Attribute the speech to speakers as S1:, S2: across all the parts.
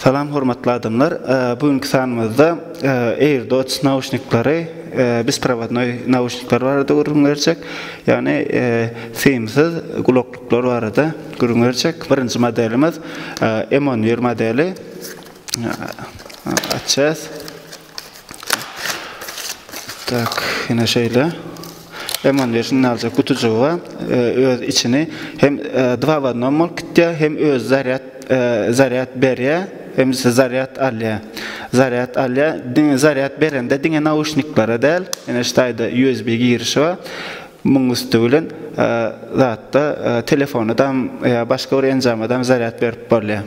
S1: Salam hormatly adamlar. Bu günki sanymyzda AirDots nauşnikleri biz provadnoy nauşnikler barada gürrüň berjek. Ýagny simsiz gulaklyklar barada gürrüň berjek. Birinji modelimiz M11 modeli. Açýas. Tak, ýene şeýle. Eman bir şunda aljak gutujygy bar. E, öz içini hem e, dva w одном bolup gitýär, hem öz zarýad e, zarýad berýär, hem ise zarýad alýar. Zarýad alýar. Diňe zarýad berende diňe nauşniklere däl, ýene şu taýda USB girişi bar. Muň üsti bilen e, zatda e, telefona dam, e, başga bir enjama dam zarýad berip bolýar.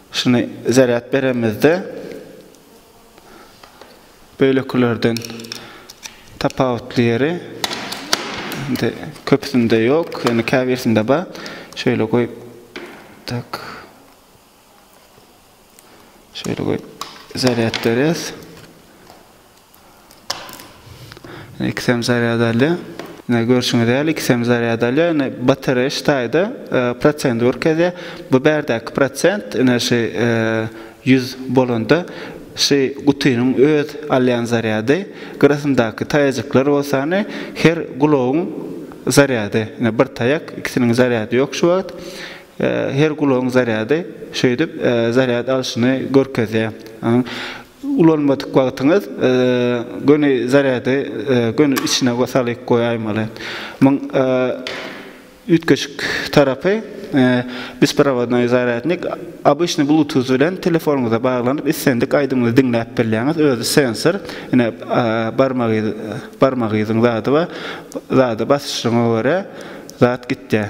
S1: Şuny zarýad beremizde beýlekilerden tapawutly ýeri indi köpüsinde ýok, ýöne käbirsinde bar. Şeýle goýup tak. Şeýle goýup zarýad berýäs. Ikisem zarýad alýar. Ine, görşüňiz ýaly, ikisem zarýad alýar. Ine, batareýa ştaýda prosenti görkezýär. Bu bärdäki prosent, ine, şu ýüz bolanda, şu gutynyň öz alýan zarýady, gyrasyndaky taýajyklar bolsa, ine, her gulagyň zarýady. Ine, bir taýak, ikisiniň zarýady ýok şu wagt. Her gulagyň zarýady şeýdip zarýad alşyny görkezýär. Ulanmadyk wagtyňyz göni zarýady göni içine salyp goýaýmaly. Muň üýtgeşik tarapy besprovodnoý zarýadnik obyçnyý bluetooth bilen telefonyňyza baglanyp islendik aýdymyňyzy diňläp bilýäňiz özi sensor ine barmagy barmagy yzyň zady bar zada basyşyňa görä zat gitýä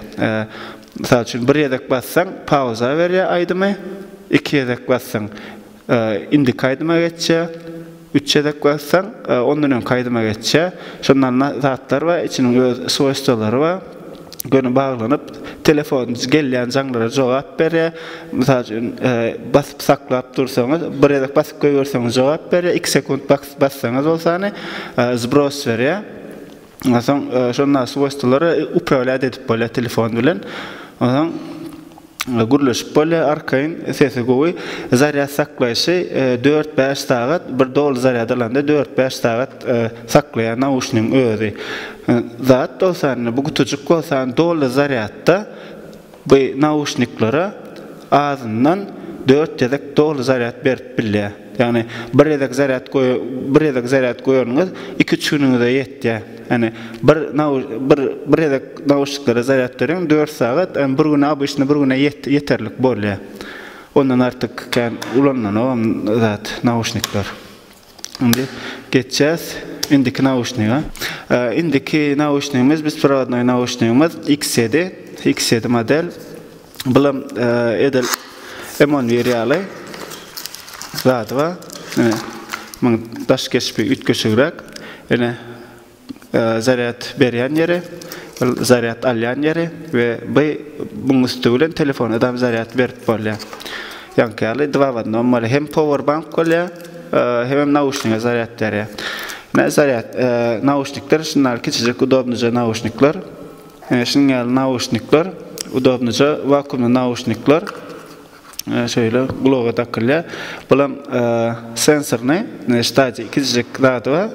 S1: mysal üçin bir gezek bassaň pauza berýä aýdymy iki gezek bassaň Indiki aýdyma geçje. Üç gezek bassaň, ondan öňki aýdyma geçje. Şonda zatlar bar, içiniň öz swoýstwolary bar. Göni baglanyp, telefon gelýän jaňlara jogap berýär. Mysal üçin, basyp saklap dursaňyz, bir gezek basyp goýberseňiz jogap berýär, iki sekunt bassaňyz bolsany zbros berýär. Onsoň şonda swojstwolary uprawilat edip bolýar telefon bilen. Onsoň gürleşip bolýar arkaýyn, sesi gowy. Zarýad saklaýşy dört-bäş sagat, bir doly zarýad alanda dört-bäş sagat saklaýar nauşnigiň özi. Zat bolsa, indi bu gutujyk bolsa doly zarýadda Bu nauşniklere azyndan dört gezek doly zarýad berip bilýär. Ýagny bir gezek zarýad bir gezek zarýad goýanyňyz iki-üç günüňize ýetýär. Ýagny bir bir bir gezek nauşniklere zarýad beriň dört sagat, ýagny bir güne obyçny bir güne ýeterlik bolýar. Ondan artyk kän ulanmanok zat nauşnikler. Indi geçýäs indiki nauşniga. Indiki nauşnigimiz besprovodnoý nauşnigimiz X7, X7 model. Bulam edil M11 ýaly zady bar. Ine, muň daş keşbi üýtgeşigräk. Ine, zarýad berýän ýeri, zarýad alýan ýeri we by muň üsti bilen telefona dam zarýad berip bolýar. Ýaňky ýaly dva w odnom bolýar. Hem power bank bolýar, hemem nauşniga zarýad berýär. Nä zarýad nauşnikler şundaly kiçijik udobnyja nauşnikler. Şunuň ýaly nauşnikler, udobnyja wakuumly nauşnikler. Şeýle gulaga dakylýar. Bulam sensorny ştaji kiçijik zady bar.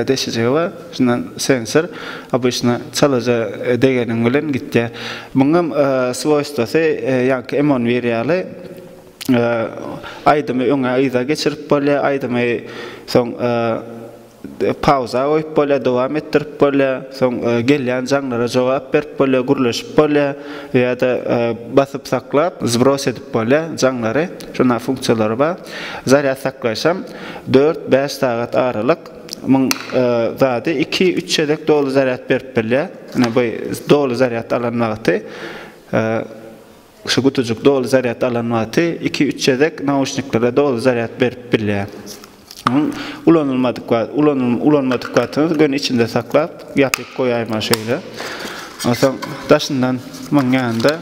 S1: Deşijigi bar. Şundan sensor obyçna çalaja degeniň bilen gitýär. Muňam swoýstwasy ýaňky M on bir ýaly aýdymy öňe yza geçirip bolýar. Aýdymy soň Pauza goýup bolýar, dowam etdirip bolýar, soň gelýän jaňlara jogap berip bolýar, gürleşip bolýar ýa-da basyp saklap zbros edip bolýar jaňlary. Şunaqa funksiýalary bar. Zarýad saklaýşam dört, bäş sagat aralyk muň zady iki, üç gezek doly zarýad berip bilýär. Ine bu doly zarýad alan wagty. Şu gutujyk doly zarýad alan wagty iki-üç gezek nauşniklere doly zarýad berip bilýär. Onuň ulanylmadyk wagty, ulanyl, ulanmadyk wagtyňyz göni içinde saklap, ýapyp goýaýmaly şeýle. Onsoň daşyndan munuň ýanynda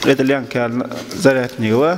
S1: edil ýaňky ýaly zarýadnigi bar.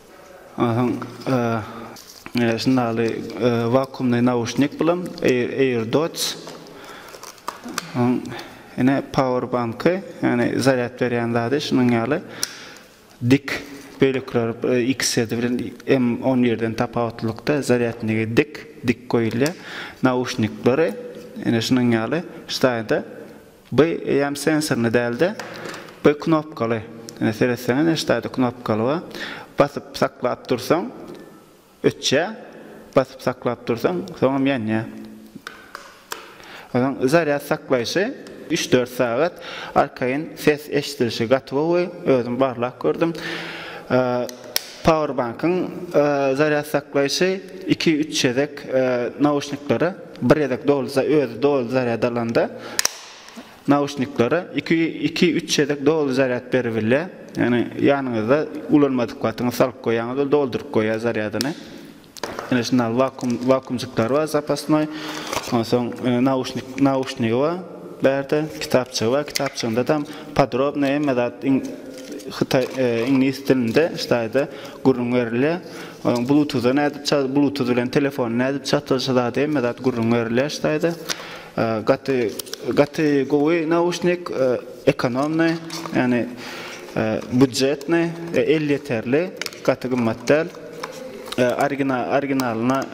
S1: Şundaly wakuumly nauşnik bilen AirDots. Ine pauerbanky, ýagny zarýad berýän zady şunuň ýaly dik bölekler XZ bilen M on birden tapawutlylykda zarýadnigi dik, dik goýulýar. Nauşnikleri ine şunuň ýaly ştaýda. By eýäm sensorny dälde by knopkaly ine seretseňiz ine ştaýda knopkaly bar basyp saklap dursaň öçýä basyp saklap dursaň soňam ýanýa onuň zarýad saklaýşy üç dört sagat arkaýyn ses eşdilişi gaty gowy özüm barlap gördüm pauerbankyň zarýad saklaýşy iki üç gezek nauşniklere Bir gezek dolsa, özi doly zarýad alanda nauşniklere iki, iki, üç gezek doly zarýad beribilýär. Ýagny ýanyňyzda ulanmadyk wagtyňyz salyp goýýaňyz, ol dolduryp goýýar zarýadyny. Ine şunda wakum wakumjyklar bar zapasnoý. Onsoň e, nauşnik nauşnigi bar. Bärde kitapçygy bar. Kitapçygynda tam podrobno hemme zat iň hytaý e, iňlis dilinde ştaýda gürrüň berilýär. Onuň blutuza nädip ça blutuz bilen telefony nädip çatladyşy zady hemme zat gürrüň berilýär şu taýda. Gaty gaty gowy nauşnik ekonomny ýani budjetny elýeterli gaty gymmat däl. Origina originalyna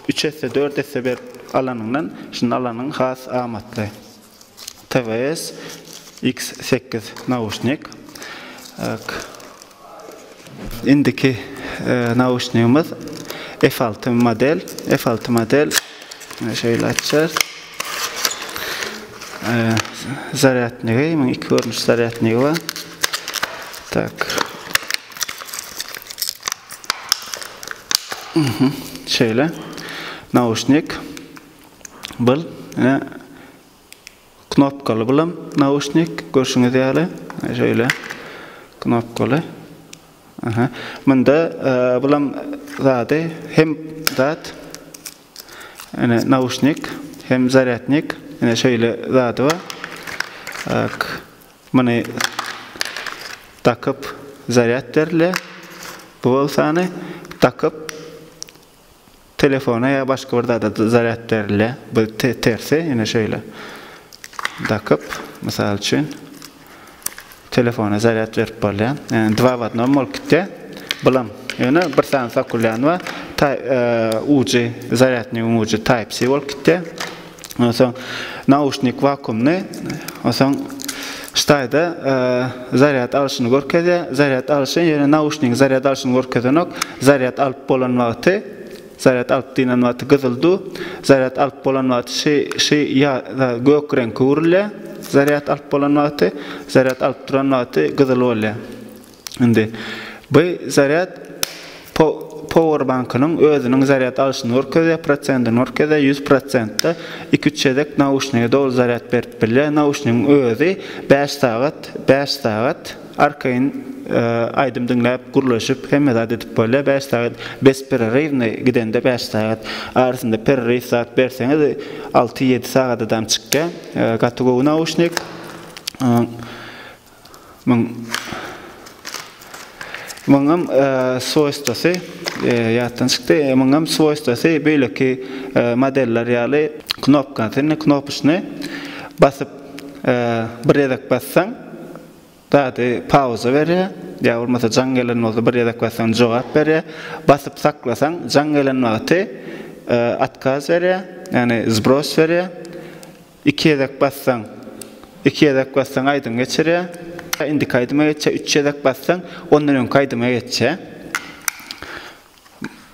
S1: üç esse dört esse berip alanyňdan şuny alanyň has amatly. TWS X sekiz nauşnik ok. Indiki nauşnigimiz F alty model. F alty model şeýle açýar. Zarýadnigi, munuň iki görnüş zarýadnigi bar. Tak. Şeýle nauşnik. Bul ine knopkaly bulam nauşnik görşüňiz ýaly şeýle knopkaly. Aha. Munda e, bulam zady hem zat ine nauşnik hem zarýadnik ine şeýle zady bar. Tak. Muny takyp zarýad berilýär. Bu bolsany takyp Telefona ýa başga bir zada zarýad berilýär. Bu tersi ýene şeýle. Dakyp, mysal üçin telefona zarýad berip bolýar. Ýani dwa w odnom bolup gitýär. Bulam ýöne bir sany sokulýan we ujy zarýadnyň ujy type C bolup gitýär. Ondan soň nauşnik wakuumny, ondan soň ştaýda zarýad alşyny görkezýär. Zarýad alşy ýöne nauşnigiň zarýad alşyny görkezenok. Zarýad alyp bolan wagty, zarýad alyp diýlen wagty gyzyl du, zarýad alyp bolan wagty şy şy ýa da gök reňke öwrülýär. Zarýad alyp bolan wagty, zarýad alyp duran wagty gyzyl bolýar. Indi bu zarýad powerbankynyň özüniň zarýad alşyny görkezýär, prosentini görkezýär, ýüz prosentde iki-üç gezek nauşnige doly zarýad berip bilýär. Nauşnigiň özi bäş sagat, bäş sagat arkaýyn aýdym diňläp, gürleşip, hemme zat edip bolýar. Bäş sagat bespererywny gidende bäş sagat. Arasynda pereryw zat berseňiz, alty-ýedi sagadadam çykýar. Gaty gowy nauşnik. Muň Muňam swoýstwasy ýatdan çykdy. Muňam swoýstwasy beýleki modeller ýaly knopkasyny, knopyşny basyp bir gezek bassaň zady pauza berýär. Ýa bolmasa jaň gelen bolsa bir gezek bassaň jogap berýär. Basyp saklasaň jaň gelen wagty otkaz berýär, ýagny zbros berýär. Iki gezek bassaň iki gezek bassaň aýdym geçirýär. Indiki aýdyma geçýär. Üç gezek bassaň ondan öňki aýdyma geçýär.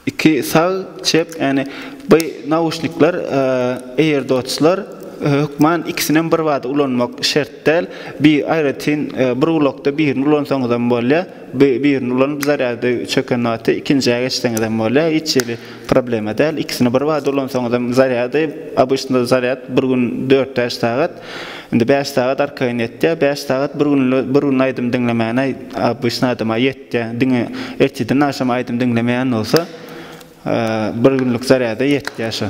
S1: Iki sag çep ýani bu nauşnikler AirDotslar hökman ikisinem birbada ulanmak şert däl. Bir aýratyn bir gulakda birini ulansaňyzam bolýar. Bu birini ulanyp zarýady çöken wagty ikinjä geçseňizem bolýar hiç hili problema däl ikisini bir bada ulansaňyzam zarýady obyçnyda zarýad bir gün dört bäş sagat indi bäş sagat arkaýyn ýetýär bäş sagat bir gün bir gün aýdym diňlemäne obyçny adama ýetýär diňe ertirden agşam aýdym diňlemeýän bolsa bir günlik zarýada ýetýär şo.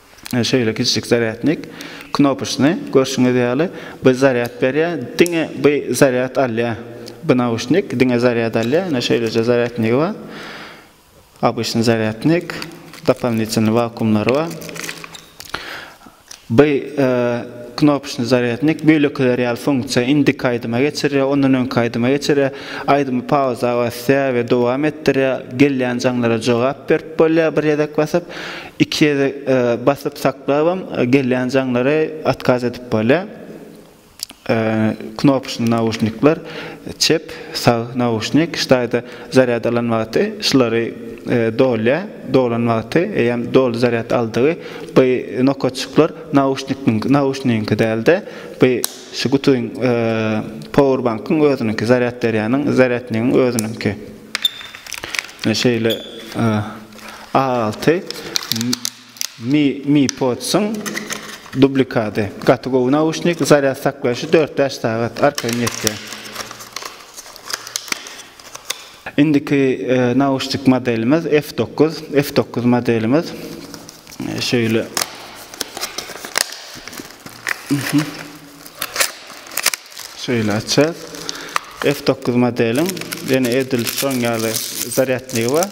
S1: Şeýle kiçijik zarýadnik knopyşyny görşüňiz ýaly bu zarýad berýär, diňe bu zarýad alýar. Bu nauşnik diňe zarýad alýar. Ine şeýleje zarýadnigi bar. Obyçnyý zarýadnik, dopalnitelnyý wakuumlary bar. Bu knopyşnyý zarýadnik beýlekiler ýaly funksiýa indiki aýdyma geçirýär, ondan öňki aýdyma geçirýär, aýdymy pauza basýar we dowam etdirýär, gelýän jaňlara jogap berip bolýar bir gezek basyp. Iki ýere basyp saklabam gelýän jaňlary otkaz edip bolýar. Knopyşny nauşnikler, çep, sag nauşnik, ştaýda zarýad alan wagty şulary dolýar, dolan wagty eýýäm doly zarýad aldygy bu nokaçyklar nauşnikniň nauşnigiňki dälde bu şu gutuň powerbankyň özüniňki zarýad berýäniň zarýadnigiň özüniňki. Şeýle. A alty Mi Mi Pods-yň dublikady. Gaty gowy nauşnik, zarýad saklaýşy dört-bäş sagat, arkaýyn ýetýär. Indiki nauşnik modelimiz F dokuz, F dokuz modelimiz. Şeýle. Şeýle açýas. F dokuz modeliň ýene edil şoň ýaly zarýadnigi bar.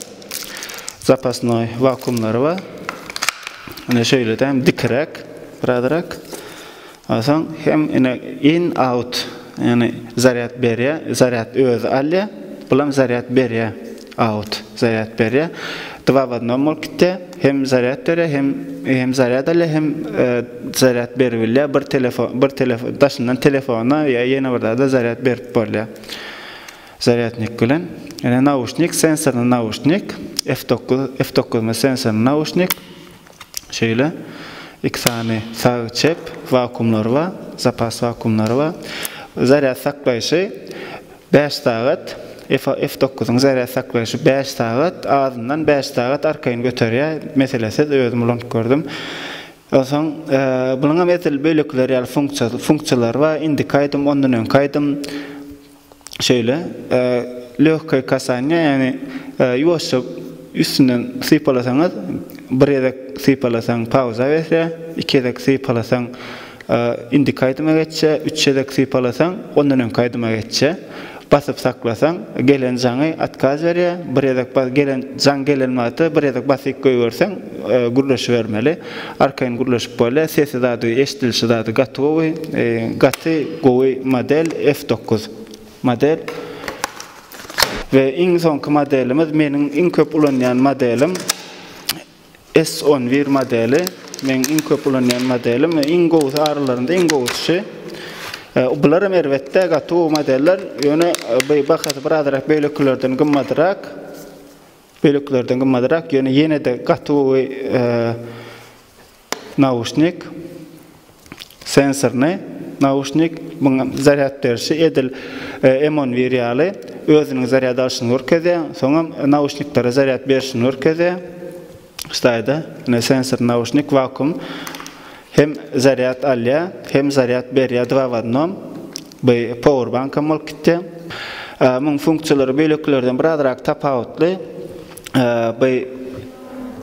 S1: Zapasnoý wakuumlary bar. Ine şeýledem dikiräk birazrak. Onsoň hem ine in out ýagny zarýad berýär, zarýad özi alýar, bulam zarýad berýär. Out, zarýad berýär. Dva w odnom bolup gitýär. Hem zarýad berýär, hem hem zarýad alýar, hem zarýad berip bilýär. Bir telefon, bir telefon daşyndan telefona ýa ýene bir zada zarýad berip bolýar. Zarýadnik bilen. Ýöne nauşnik, sensorny nauşnik, F dokuz, F dokuz bilen sensorny nauşnik. Şeýle iki sany sag, çep wakuumlary bar, zapas wakuumlary bar. Zarýad saklaýşy bäş sagat, F dokuzyň zarýad saklaýşy bäş sagat, azyndan bäş sagat arkaýyn göterýär, meselesiz, özüm ulanyp gördüm. Onsoň bunuňam edil bölekler ýaly funksiýalary bar, indiki aýdym, ondan öňki aýdym, şeýle, lёgkaý kasaniýa, ýagny ýuwaşja üstünden sypalasaňyz, bir gezek sypalasaň pauza berse, iki gezek sypalasaň indiki aýdyma geçse, üç gezek sypalasaň ondan öňki aýdyma geçse, basyp saklasaň gelen jaňy otkaz berýär, bir gezek gelen jaň gelen wagty bir gezek basyk goýberseň gürleşibermeli. Arkaýyn gürleşip bolýar. Sesi zady eşdilişi zady gaty gowy. Gaty gowy model F dokuz model. We iň soňky modelimiz meniň iň köp ulanýan modelim S on bir modeli. Meniň iň köp ulanýan modelim we iň gowusy aralarynda iň gowusy şu. Bular hem erbetde gaty gowy modeller. Ýöne bahasy birazrak beýlekilerden gymmadyrak. Böleklerden gymmadrak ýöne ýene-de gaty gowy nauşnik, sensorny nauşnik. Muň zarýad berişi edil Emonwir ýaly özüniň zarýad alşyny görkezýär, soňam nauşniklere zarýad berişini görkezýär. Ştaýda ine sensor nauşnik vakuum Hem zarýad alýa hem zarýad berýä dva w odnom by powerbankam bolup gitýä. Muň funksiýalary bölekilerden birazrak tapawutly. By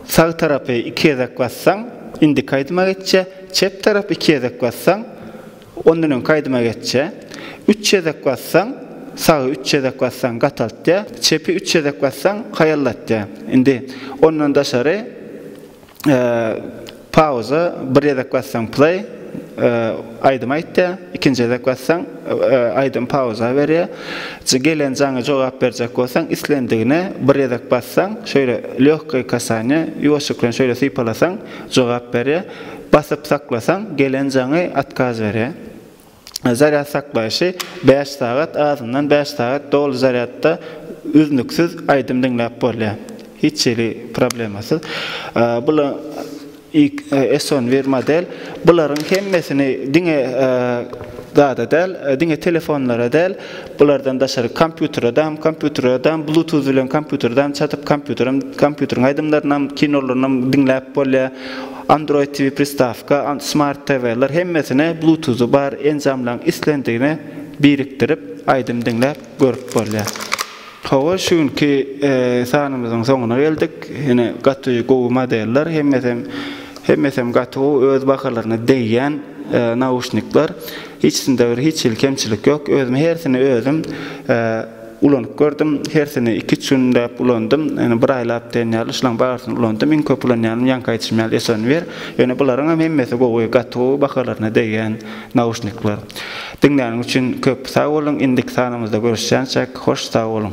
S1: sag tarapy iki gezek bassaň indiki aýdyma geçýä. Çep tarapy iki gezek bassaň ondan öňki aýdyma geçýä. Üç gezek bassaň sagy üç gezek bassaň gataltýa. Çepi üç gezek bassaň haýallatýa. Indi ondan daşary. Pauza bir gezek bassaň play aýdym aýtýa ikinji gezek bassaň aýdym pauza berýä gelen jaňa jogap berjek bolsaň islendigine bir gezek bassaň şöýle lýogkaý kasaniýa ýuwaşjyk bilen şöýle sypalasaň jogap berýä basyp saklasaň gelen jaňy atkaz berýä. zarýad saklaýşy bäş sagat, azyndan bäş sagat doly zarýadda üznüksiz aýdym diňläp bolýar. Hiç hili problemasyz. Bul S11 model. Bularyň hemmesini diňe zada däl, diňe telefonlara däl, bulardan daşary kompýutere dam, kompýutere dam, bluetooth bilen kompýutere dam çatyp kompýuterem, kompýuteriň aýdymlarynam, kinolarynam diňläp bolýar. Android TV pristawka, Smart TV-ler hemmesine Bluetooth-y bar enjamlaryň islendigine birikdirip aýdym diňläp görüp bolýar. Hawa şu günki sanymyzyň soňuna geldik. Ine gaty gowy modeller hemmesem hemmesem gaty gowy öz bahalaryna degýän nauşnikler. Hiçsinde bir hiç hili kemçilik ýok. Özüm hersini özüm Ulanyp gördüm. Hersini iki-üç günläp ulandym. Ýöne bir aýlap diýen ýaly şulaň barysyny ulandym. Iň köp ulanýanym ýaňky aýdyşym ýaly Esonwir. Ýöne bularyňam hemmesi gowy, gaty gowy bahalaryna degýän nauşnikler. Diňläniň üçin köp sag boluň. Indiki sanymyzda görüşýänçäk hoş sag boluň.